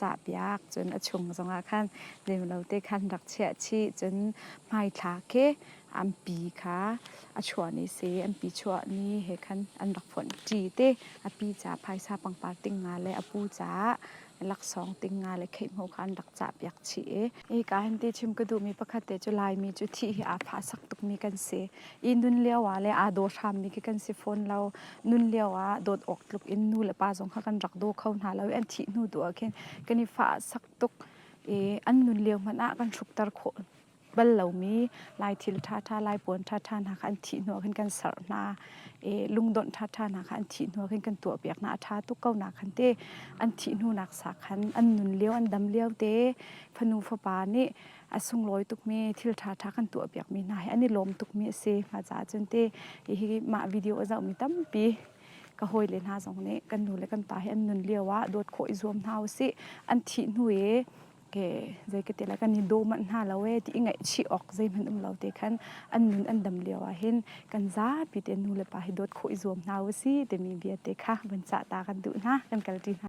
cahpiak, cun a chung zongah khan zeimlote khan rak chiah chih, cun hmaithla khi ampi kha a chuah ni si, ampi chuah ni he khan an rak phonh ṭi te, a pi caah phaisa pangpar ting nga le a pu caah laksawng ting nga le kheihmo kha an rak cahpiak chih i Hika hin ti chim ka duhmi pakhat te cu Laimi cu thih hi aa fahsak tukmi kan si i nun lio ah le aa daw hrammi khi kan si fawn lo. Nun lio ah dawt awk tluk in nu le pa zong kha kan rak daw kho hna lo i an thih hnu tu ah khin kan i fahsak tuk i an nun lio hmanh ah kan hrukter khawh bal lomi Lai thil ṭhaṭha, Lai puan ṭhaṭha hna kha an thih hnu ah khin kan sarh hna. lungdawnh ṭhaṭha nak kha an thih hnu khin kan tuahpiak hna a ṭha tuk ko nak khan te an thih hnu nak sa khan an nun lio an dam lio te fanu fapa nih a sunglawi tukmi thil ṭhaṭha kan tuahpiakmi hna hi an i lawm tukmi a si ma caah cun te hi mah video a zohmi tampi ka hawi le hna zong nih kan nu le kan pa hi an nun lio ah dawt khawh i zuam hna usih an thih hnu i Okay, zei ka ti lai kan i daw manh hna lo e ti i ngaihchih awk zeihmanh um lo te khan an nun an dam lio ah hin kan zapi te nu le pa hi dawt khawh i zuam hna u si timi bia te kha vun cah ta kan duh hna kan kal ṭi hna.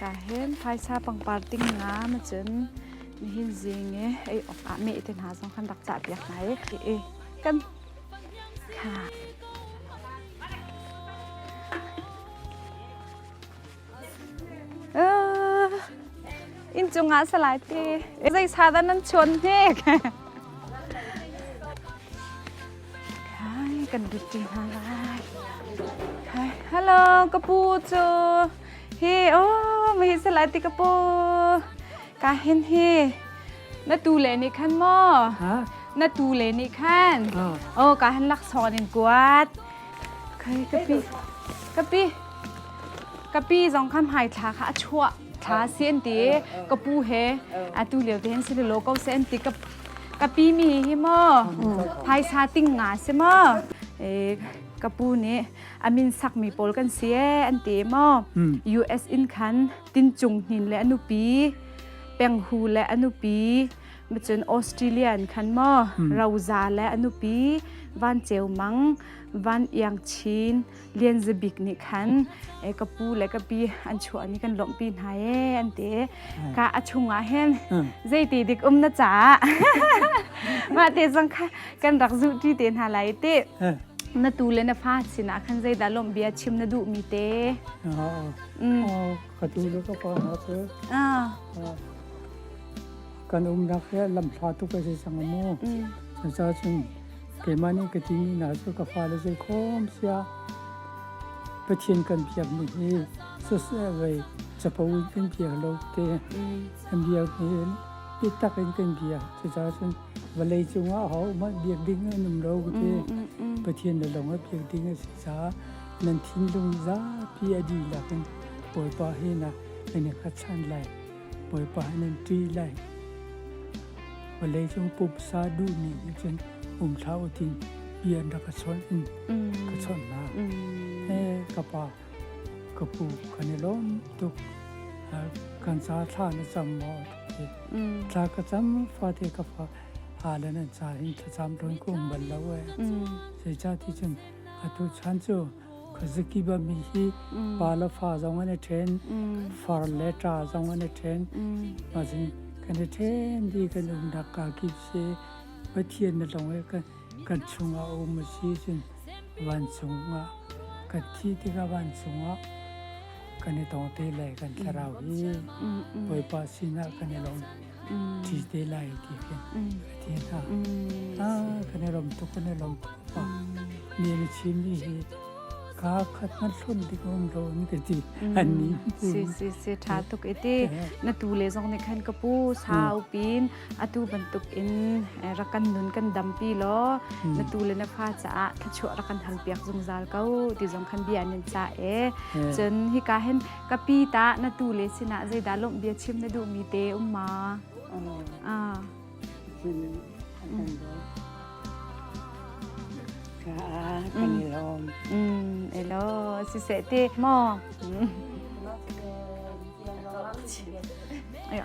Kaa hen phaisa pangpar ting ngam cun nihin zing i ei awk ah meh te hna zong kan rak cah piak hna i kan kha inn cungah salai ti zei sa dan nan chuan hne kai kan duti hna lai hai hello kapu chu hi o mi salai ti kapu ka hin hi na tu le ni khan mo na tu le ni khan o ka han lak son in kuat Kai kapi kapi kapi zong khan hmaithla kha a chuah thla si an ti ka pu he atu lio te hin si lo ko se an ti ka kapi mi hi maw phaisa ting nga si maw ka pu nih amin sakmi pawl kan si e an ti maw US in khan tin cung hnin le a nupi penghu le a nupi Cun Australia an khan maw roza le a nupi Van Ceu Mang, Van Iang Chin, Lian Za Bik nih khan ka pu le ka pi an chuahmi kan lawmhpi hna ee an ti. Ka a chungah hin zeiti dik um na caah mah te zong kan rak zuhti te hna lai ti. Na tu le na fa sinah khan zeidah lawmhbia chim na duhmi te. Ka tu le ka pa hna cu. kan umnak hi lamhla tuk a si cang mu. Cucaah cun keimah nih ka timi hna cu ka fale zei khawm sia Pathian kan biak mi hi sosai capo in kan bia lo te kan bia hi bitak in kan bia cucaah cun vawlei cungah ho mah biak ding an um lo te Pathian le lawng a biak ding a si caah nan thinlung zapi a dihlak in Bawipa hi na kan i khat than lai Bawipa in an ṭih lai. Vawleicung pumsa duhmi nih cun um hlah u tin bia an rak ka chawnh in ka chawnh hna. Eh ka pa, ka pu kan i lawm tuk. Ah, kan ca thla na cam maw? ti. Thla ka cam fate ka fa halen an ca hin thlacam tlon ku um bal lo eh. Zeicah ti cun atu chan cu zakibami hi pa le fa zong an i ṭhen far le ṭa zong an i ṭhen mazin kan i ṭhen di kan umnak ka kip se pathian na long e kan kan chungah um si cun vancungah kan thi tikah vancungah kan i tong te lai kan thlarau hi bawipa sinah kan i long ti te lai ti ke ti hna a kan e rom tu kan e rom tu pa ni ni chim ni hi ka khat man hlun dik om ro ni ke ti an ni si si si tha tuk iti na tu le zong ne khan ka pu sa upin atu bantuk in rakan nun kan dampi lo na tu le na fa cha tha chu rakan hal piak zungzal ko ti zong khan bia nan cha e chun hi ka hen ka pi tah na tu le sinah zeidah lawmh bia chim na duhmi te um ma? Ah. kan i lawm. Mm, elo, siseh te, mo. Ayo.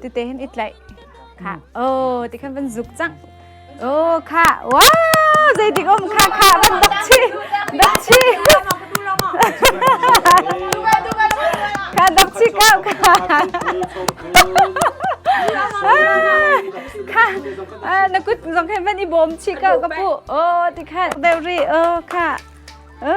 tete hin i tlaih kha o ti khan van zuk cang o kha wa zeitik um kha kha van dak chi dak chi kha dak chi kha kha na kut zong khan van i bawm chi ka ka pu o ti khan deury o kha o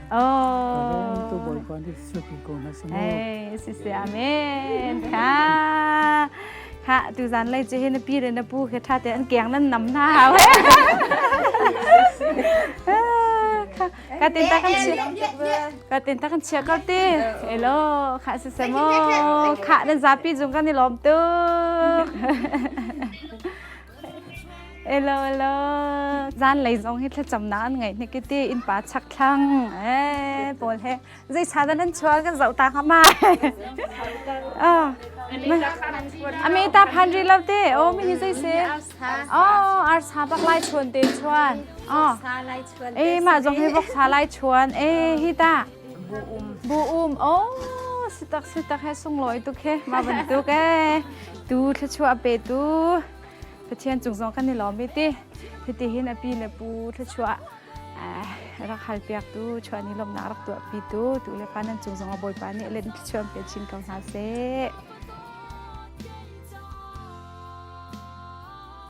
Oh. Tu Bawipa nih suapi ko hna sung. Hey, sisi amen. Kha. Kha tu zan lai che hin pi re na pu ke tha te an keng nan nam na hawe. Ka tin ta kan chia. Ka tin ta kan chia kau ti. Elo, kha si se mo. Kha dan zapi jung kan ni lom tu. Elo elo zan lei zong hi thlacamnak an ngei hnik ti in pa chak thlang eh pawl he zai sa dan an chual kan zau ta ha ma ami ta phan ri lo te o mi hi zai se o ar sa bak lai chuan te chuan o e ma zong hi vok sa lai chuan e hi ta Bu um o sitak sitak he sunglawi tuk he ma bantuk e tu thlachua pe tu pathian chung zong kan ni lawm ti hiti hin api le pu thlachua rak hal piak tu chuani lom na rak tu pi tu tu le pa nan chung zong a boi pa ni len chuan pe chin ko hna se